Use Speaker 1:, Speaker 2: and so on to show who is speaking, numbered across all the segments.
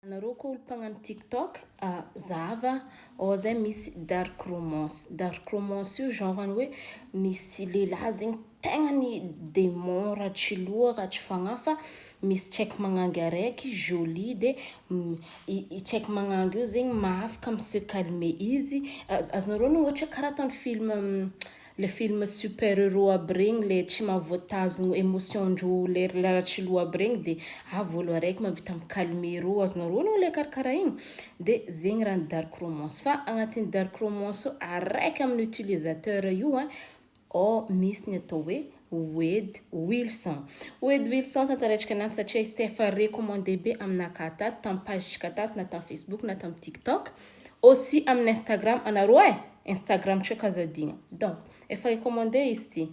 Speaker 1: Anareo koa olo mpagnano tiktok a zahava ao zay misy dark romance, dark romance io genre ny hoe misy lehilahy zegny tegna ny demon raha tsy loha raha tsy fagnahy fa misy tsaiky magnangy araiky jolie de i tsaiky magnangy io zegny mahafaka mi se calmer izy, azonareo ny ohatra karaha ataony film. Le film super euro aby regny le tsy mahavoatazogno emotion ndro lery laratry loha aby regny de avy olo araiky mavita mi calmer ro azonareo anao le karakara igny de zegny raha ny dark romance fa agnatin'ny dark romance ao araiky amin'ny utilisateur io an ao misy ny atao hoe Wed Wilson. Wed Wilson, tantaraintsika an'azy satria izy tsy efa recommandé be aminà ka tato, tamin'ny page-ntsika tato na tamin'ny Facebook na tamin'ny TikTok, aussi amin'ny Instagram anareo eh! Instagram tsy ka aza adino. Donc, efa recommandé izy ity.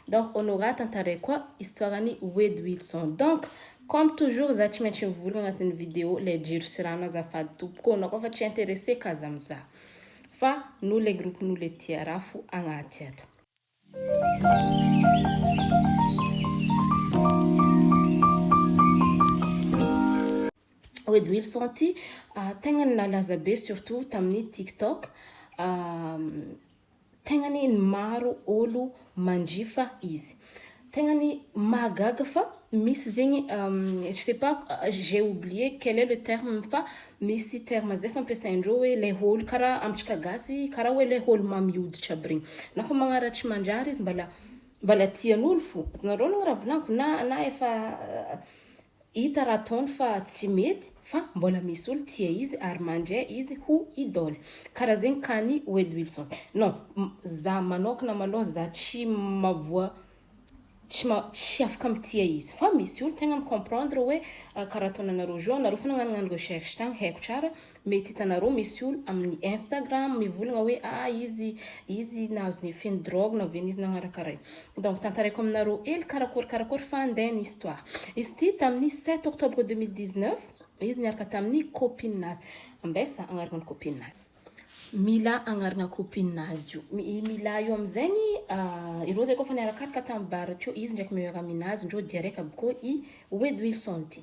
Speaker 1: Donc, Honorat, tantaraiko koa histoire-n'i Wed Wilson. Donc, comme toujours, za tsy maintsy mivory agnatin'ny vidéo lay jiro sy rano azafady tompoko ô! Anao koa fa tsy intéressé ka aza mizaha fa nous les groupes nous les tia raha fo agnaty ato. Wade Wilson ity tegna ny nalaza be surtout tamin'ny tiktok tegna ny maro olo manjifa izy Tegna ny mahagaga fa misy zegny je sais pas j'ai oublié quel est le terme fa misy terme zay fampiasain-dreo hoe le holo karaha amintsika gasy karaha hoe le holo mamy hoditra aby regny na fa magnaratsy mandrary izy mbala mbala tian'olo fô, azonareo agnareo raha volaniko na na efa Hita raha ataony fa tsy mety fa mbola misy olo tia izy ary mandria izy ho idole. Karaha zegny ka ny Wade Wilson. Non, za manokana malôha za tsy mavoa tsy ma- tsy afaka mitia izy. Fa misy olo tegna mi-comprendre hoe karaha ataonanareo jeux anareo fô nagnanognano recherche tagny haiko tsara Mety hitanareo misy olo amin'ny Instagram mivolagna hoe ah izy izy nahazo ny effet ny drogue na ven'izy nagnaraka ray. Donc tantaraiko aminareo hely karakory karakory fa ndeha ny histoire. Izy ity tamin'ny sept octobre deux mille dix neuf izy niaraka tamin'ny copine nazy. Ambessa agnarana ny copine nazy. Mila agnarana copine nazy io. I Mila io amizegny ah ireo zay koa efa niarakaraka tamin'ny bar teo izy ndraiky meilleur amie nazy ndreo dia raiky aby koa i Wedwilson ty.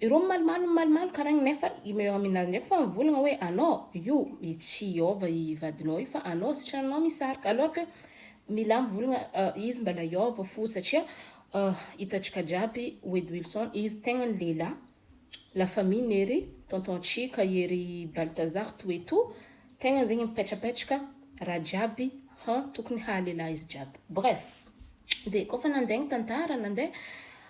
Speaker 1: Ireo mimalomalo mimalomalo karagny nefa i meo aminazy ndraiky fa mivolagna hoe anao io i tsy iova i vadinao io fa anao sy tragnonao misarika alors que milà mivolagna izy mbala hiova fo satria hitantsika jiaby wedy wilson izy tegnany lehilahy la famille nery tonton chika ery baltazar tout et tout tegnany zegny mipetrapetraka raha jiaby han tokony haha lehilahy izy jiaby bref de kôfa nandeha ny tantara nandeha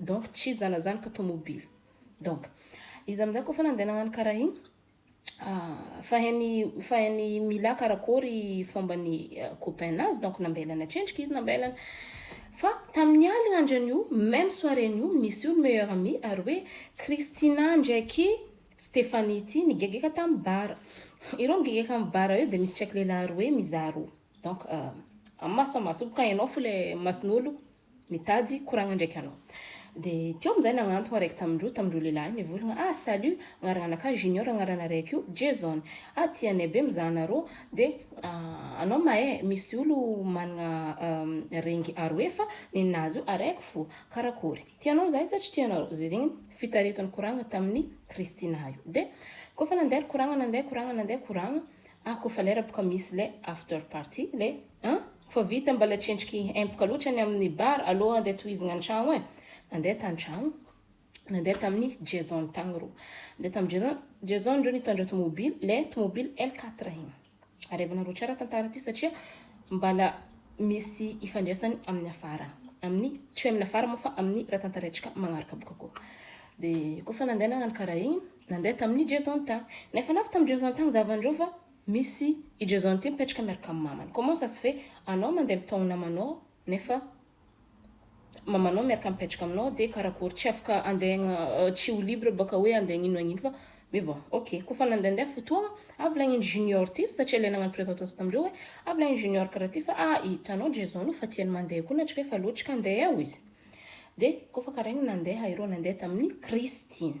Speaker 1: Donc tsy hijanona zany ka tomobily. Donc izy amizay koa fa nandeha nagnano karaha igny fa hainy fa hainy Mila karakory fombany copain nazy donc nambelany atrendriky izy nambelany fa taminy aligna andro anio meme soirée nio misy olo meilleur ami ary hoe Christina ndraiky Stephanie ty nigegeka tamy bar ireo migegeka amy bar eo de misy tsaiky lelah roe mizaha roa. Donc amin'ny maso samy mahasolo ka ianao fo ilay mason'olo mitady koragna ndraiky anao. Dia teo amin'izay nagnantogna araiky tamin-droa tamin-droa lehilahy nivolagna, ah salut, agnaran'akahy Junior agnaranareo ko Jason, ah tia anay be mizaha anarô, dia anao mahay misy olo managna rengy aroe fa ninazy io araiky fo, karakory, tianao zahay sa tsy tianareo, zay zegny fitaretany koragna tamin'i Christina io. Dia kôfa nandeha ry koragna nandeha koragna nandeha koragna, Ah kofa lera boka misy le after party le an! Kofa vita mbala tsy endriky empoka loatra ny amin'ny bar alou andeha tohizigna antragno e! Nandeha tantragno nandeha tamin'ny Jason tagny rô nandeha tamin'ny Jason Jason ndreo nitondra tomobily le tomobily L quatre igny arevanareo tsara tantara ty satria mbala misy ifandraisany amin'ny afara amin'ny tsy hoe amin'ny afara moa fa amin'ny raha tantaraintsika magnaraka boka koa de kofa nandeha nagnano karaha igny Nandeha tamin'i Jason tany. Nefa navy tamin'i Jason tany zavan'ireo fa misy i Jason ity mipetraka miaraka amin'ny mamany. Comment ça se fait anao mandeha mitaona namanao nefa mamanao miaraka mipetraka aminao dia karakory tsy afaka andeha tsy ho libre baka hoe andeha hagnino hagnino fa mais bon ok. Koa fa nandehandeha fotoagna avy lagniny Junior ity satria ilay nagnano présentation tamin'ireo hoe avy lagniny Junior karaha ty fa ah hitanao Jason io fa tiany mandeha koa na tsy rehefa loatra ka andeha ao izy. Dia koa fa karaha igny nandeha ireo nandeha tamin'i Christine.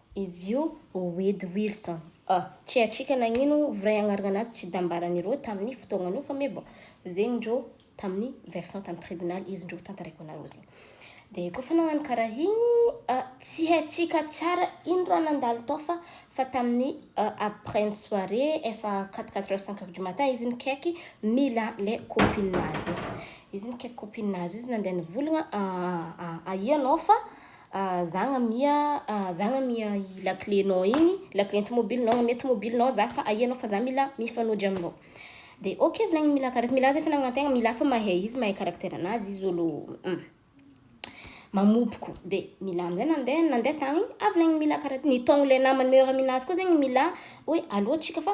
Speaker 1: Izy io Wade Wilson. Ah, Chiachika nagnino vray agnaragna anazy tsy dambaran ireo taminy fotoagna io fa me bon zegny ndreo taminy version taminy tribunal izy ndreo tantaraiko anareo zegny. Dia koa fa nagnano karaha igny ah, tsy haintsika tsara ino raha nandalo tao fa fa taminy ah, après ny soirée efa quatre quatre heures cinq heures du matin izy nikaiky mila le copine nazy. Izy nikaiky copine nazy io izy nandeha nivolagna ah, ah, ah, ahia anao fa Ah zagna mia ah zagna mia i lakile nao igny, lakile tomobile nao agnamia tomobile nao za fa ahianao fa za mila mifanojo aminao. Dia ok volagniny mila kara mila zay fanagnana tegna mila fa mahay izy mahay caractère anazy izy olo mamopoko dia mila amizay nandeha nandeha tagny avy laigny mila kara nitaogno le namany meilleur amie nazy koa zegny mila hoe allo tsika fa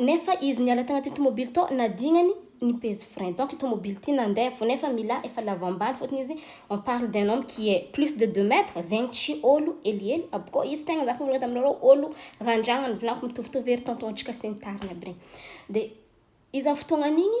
Speaker 1: Nefa izy niala tanatin'ny tomobily tao nadignany ny peze frein donc io tomobily ity nandeha fo nefa milà efa lava ambany fotony izy on parle d'un homme qui est plus de deux mètres zegny tsy ôlo helihely aby koa izy tegna zah mivolagna taminareo ôlo randragna nivolagna mitovitovy ery tonton-tsika sy ny tariny aby regny de iza fotoagnan'igny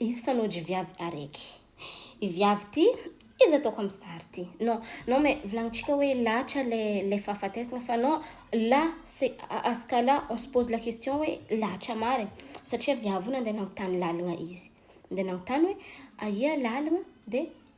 Speaker 1: Izy fanao dry viavy areky. I viavy ty izy ataoko am sary ty. Non non mais volagnintsika hoe latra le le fahafatesana fa non là c'est à à ce cas là on se pose la question hoe latra marigny satria viavy io nandeha nagnontany lalagna izy. Nandeha nagnontany hoe aia lalagna de.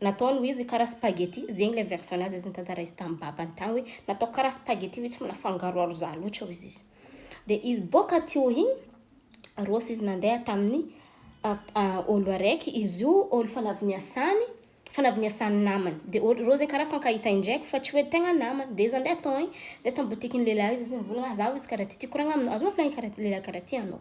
Speaker 1: Nataony ho izy kara spaghetti, zegny le version nazy izy nitantara izy tam babany tagny hoe nataoko kara spaghetti hoe tsy mila fangaroaro za loatra hoy izy. De izy boka teo igny roso izy nandeha tamin'ny olo araiky izy io olo fanavy niasany fanavy niasany namany de olo reo zegny kara fankahita indraiky fa tsy hoe tegna namany de izy nandeha tao igny de tam botikin'ny lehilahy izy izy nivôlagna za hoy izy kara ty ty koragna aminao azonao volagna kara lehilahy kara ty anao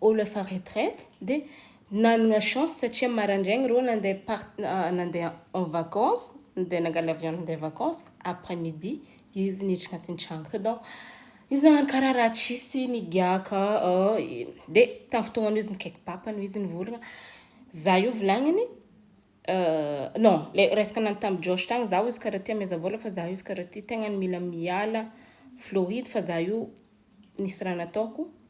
Speaker 1: Olo efa retraite dia nanagna chance satria marandraigny reo nandeha part nandeha en vacance dia nangala avion nandeha vacance après midi izy niditra agnatin'ny tragno tao donc izy nagnano karaha raha tsisy nigiaka dia tamin'ny fotoagnan'io izy nikaiky papany hoy izy nivolagna za io volagniny non le resaka nagnano tamin'i Josh tagny za hoy izy karaha ty hameheza vôla fa za izy karaha ty tegna mila miala Floride fa za io nisy raha nataoko.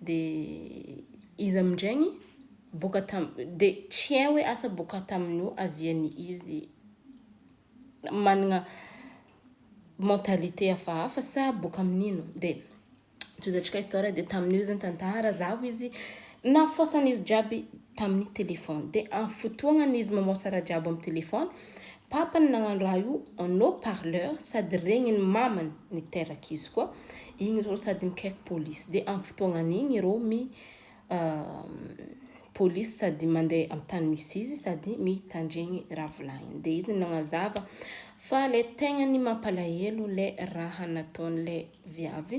Speaker 1: Dia izy amin-drainy boka tam dia tsy hay hoe asa boka tamin'ny ho avia ny izy manana mentalité hafahafa sa boka amin'ino dia tohizatrika histoire dia tamin'io izy nitantara zaho izy nafosan'izy jiaby tamin'ny telephone dia amin'ny fotoagnany izy mamosa raha jiaby amin'ny telephone, papany nagnano raha io en haut parleur sady regniny mamany niteraka izy koa, igny reo sady mikaiky police dia amin'ny fotoagnany igny reo mi police sady mande amin'ny tany misy izy sady mitandregny raha volagniny dia izy nagnazava fa le tegnany mampalahelo le raha nataon'le viavy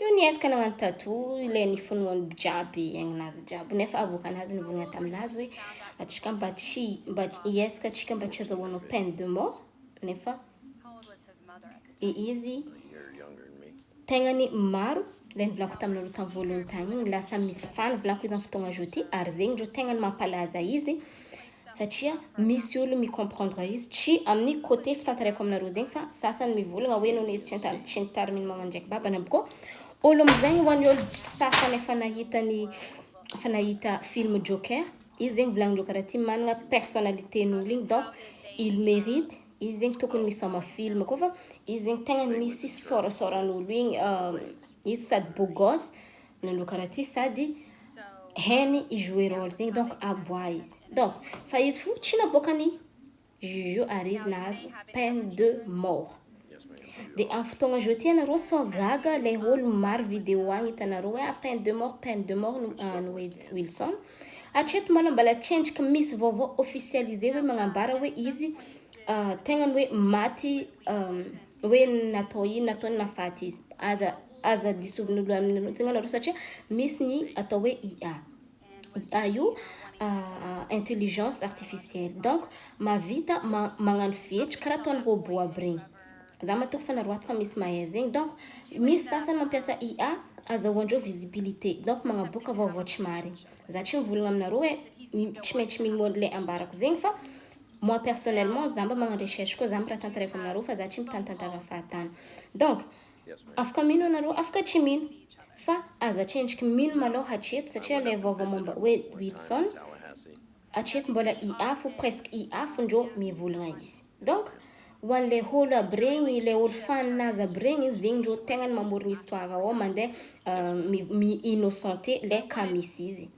Speaker 1: Io niezaka nagnano tattoo ilay nifonoany jiaby aignina azy jiaby nefa avoakany azy nivolagna taminazy hoe atsika mba tsy mba hiezaka atsika mba tsy hazahoanao peine de mort nefa i izy tegnany maro ilay nivolako taminareo tamin'ny voalohany tany igny lasa misy faha nivolako izany fotoagna zao ty ary zegny reo tegnany mampalaza izy satria misy olo mi comprendre izy tsy amin'ny côté fitantarako aminareo zegny fa sasany mivolagna hoe noho izy tsy an-tany tsy nitarimy ny mamany ndraiky babany abko olo amizegny ho an'ny olo sasany efa nahita ny efa nahita film joker izy zegny volagnin'ireo karaha ty managna personnalitén'olo igny donc il mérite izy zegny tokony misaoma film koa fa izy zegny tegna misy sôrasôran'olo igny izy sady beau gosse nanao karaha ty sady hainy hi jouer role zegny donc aboa izy donc fa izy fo tsy naboakany juge ary izy nahazo peine de mort de am fotoagna zao ty anareo sao gaga le olo maro video agny itanareo hoe ah peine de mort peine de mort an'i wejy Wilson hatreto malôha mbala tsendriky misy vaovao officialisé hoe magnambara hoe izy tegnany hoe maty hoe natao iny natao iny mahafaty izy aza aza disovin'olo amin'ny loha tsinga nareo satria misy ny atao hoe IA IA io intelligence artificielle donc mahavita ma- magnano fihetsika karaha ataon'ny robot aby regny za matoky fa nareo ato fa misy mahay zegny donc misy sasany mampiasa IA azahoandreo visibilité donc magnaboaka vaovao tsy marigny za tsy mivolagna aminareo hoe tsy maintsy mino an'le ambarako zegny fa Moi personnellement za mba magnano recherche koa za mba raha tantaraiko aminareo fa za tsy mpitanitantara ny fahatany donc afaka mino anareo afaka tsy mino fa aza tsendriky mino malôha hatreto satria le vaovao momba hoe Wilson hatreto mbola i afo presque i afo ndrô mivolagna izy donc Ho an le olo aby regny, le olo fan nazy aby regny, zegny ndrô tegna ny mamorogny histoire ao mandeh mi innocente le cas misy izy.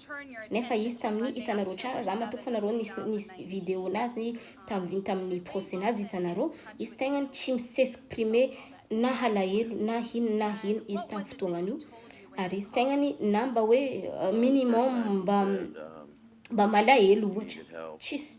Speaker 1: Nefa izy tamin'ny itanarô tsara za matoky fa narô nisy nisy video nazy tamin tamin'ny procès nazy itanarô, izy tegnany tsy mi s'exprimer na halahelo na hino na hino izy tam fotoagnanio ary izy tegnany na mba hoe minimum mba mba malahelo ohatra tsisy